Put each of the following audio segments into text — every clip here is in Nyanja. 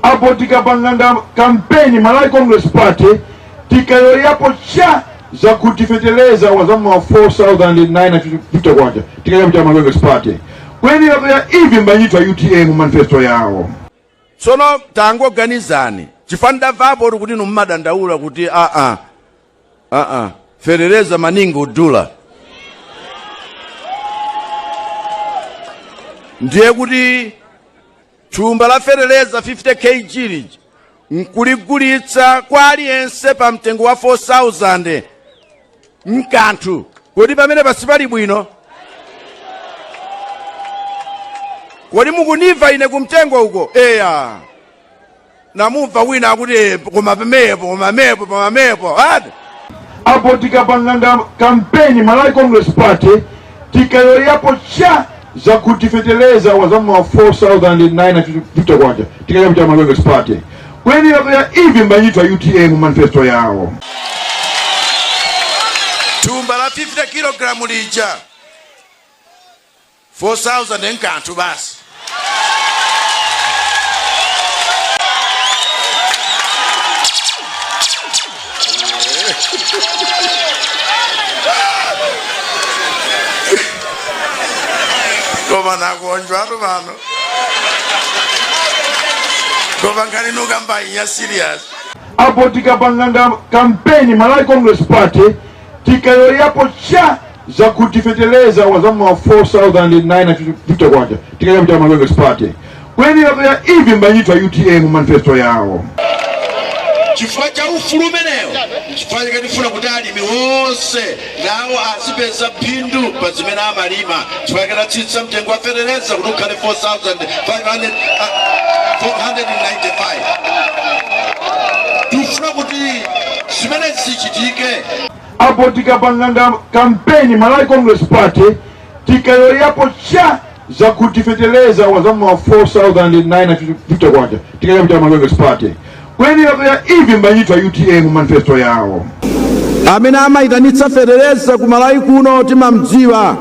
apo tikapanganga kampeni malawi congress party tikayoyapo cha zakuti feteleza wazamuwa 4950 kwacha tikayoyapo cha malawi congress party kweni wakayoya ivi mbanyithu a utm mu manifesto yawo tsono tangoganizani chifukwa ndamvapo kuti inu mumadandaula kuti aa aa feteleza mani ngodula ndiye kuti Thumba la feteleza 50 KG lija nkuligulitsa kwa aliyense pa mtengo wa 4000 nkanthu kodi pamenepa sipali bwino kodi mukunimva ine kumtengo uko eya namumva wina akuti "Eh, koma pemepo koma pemepo koma pemepo ati apo tikapanganga kampeni malawi congress party tikayoyapo cha zakuti feteleza wazamuwa 4950 kwacha tikayoyapo cha malawi congress party kweni wakayoya ivi mbanyithu a utm mu manifesto yawo thumba la 50 kilogalamu lija 4000 nkanthu basi. Koma nakuonjwatu pano. Koma nkhani nukamba iya serious. apo tikapanganga kampeni malawi congress party tikayoyapo cha zakuti feteleza wazamuwa 4950 kwacha tikayoyapo cha malawi congress party kweni wakayoya ivi mbanyithu a utm mu manifesto yawo chifukwa cha ufulu umenewo chifukwa chake tifuna kuti alimi onse nawo azipeza phindu pa zimene amalima chifukwa chake tatsitsa mtengo wa feteleza kuti ukhale 4495 tifuna kuti zimene zichitike apo tikapanganga kampeni Malawi Congress Party tikayoyapo cha zakuti feteleza wazamuwa 4950 kwacha tikayoyapo cha Malawi Congress Party kweni wakayoya ivi mbanyithu a UTM mu manifesto yawo amene amayitanitsa feteleza ku Malawi kuno timamdziwa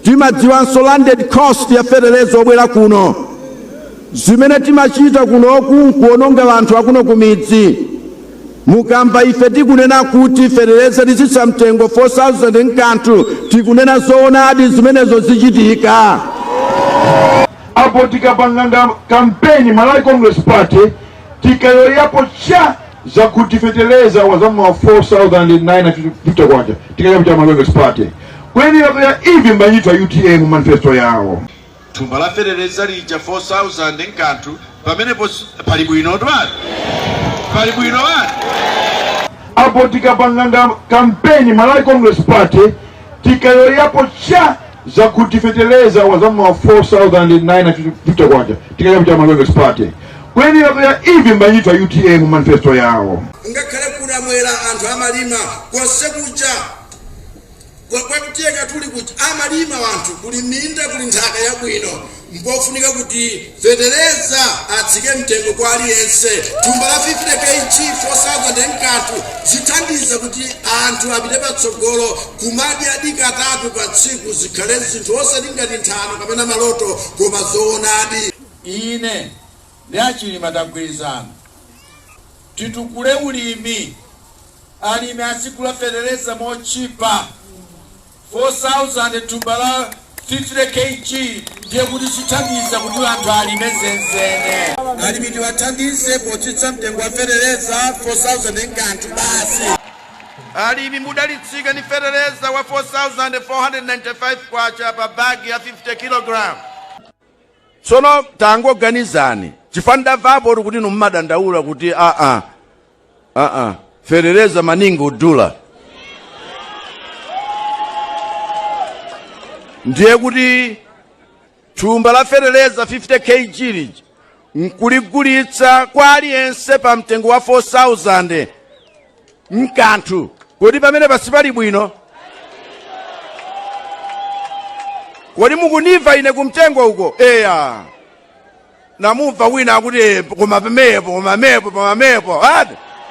timadziwanso landed cost ya feteleza obwera kuno zimene timachita kunoku nkuononga anthu akuno kumidzi Mukamva ife tikunena kuti feteleza titsitsa mtengo 4000 nkanthu tikunena zoonadi zimenezo zichitika. Apo tikapanganga kampeni Malawi Congress Party tikayoyapo cha zakuti feteleza wazamuwa 4950 kwacha tikayoyapo cha Malawi Congress Party kweni wakayoya ivi mbanyithu a UTM mu manifesto yawo thumba la feteleza lija 4000 nkanthu pamenepo sipali bwino twani pali bwino wani apo tikapanganga kampeni malawi congress party tikayoyapo cha zakuti feteleza wazamuwa 4950 kwacha tikayoyapo cha malawi congress party kweni wakayoya ivi mbanyithu a utm mu manifesto yawo ngakhale ku namwera anthu amalima konse kuja kwakuti eka tuli kuti amalima wanthu kuli minda kuli nthaka yabwino mpofunika kuti feteleza atsike mtengo kwa aliyense thumba la 50 KG 4000 n'kanthu zithandiza kuti anthu apite patsogolo kumadyadi katatu pa tsiku zikhale zinthu osati ngati nthano kapena maloto koma zoonadi. Ine ndi a Chilima tagwirizana titukule ulimi. alimi azigula fetereza motchipa, 4000 thumba la 50 KG ndiye kuti zithandiza kuti anthu alime zenzene. Alimi tiwathandize potsitsa mtengo wa fetereza 4000 n'kanthu basi. Alimi mudalitsika ndi fetereza wa 4,495 kwacha pa bagi ya 50 kilogalamu. Tsono tangoganizani chifukwa ndamvapo kuti inu mumadandaula kuti aa aa fetereza maningodula ndiye kuti thumba la fetereza 50 kg lija nkuligulitsa kwa aliyense pa mtengo wa 4000 n'kanthu kodi pamene pasi pali bwino kodi mukunimva ine kumtengo uko eya namumva wina akuti koma pamenepo koma pamenepo koma pamenepo ati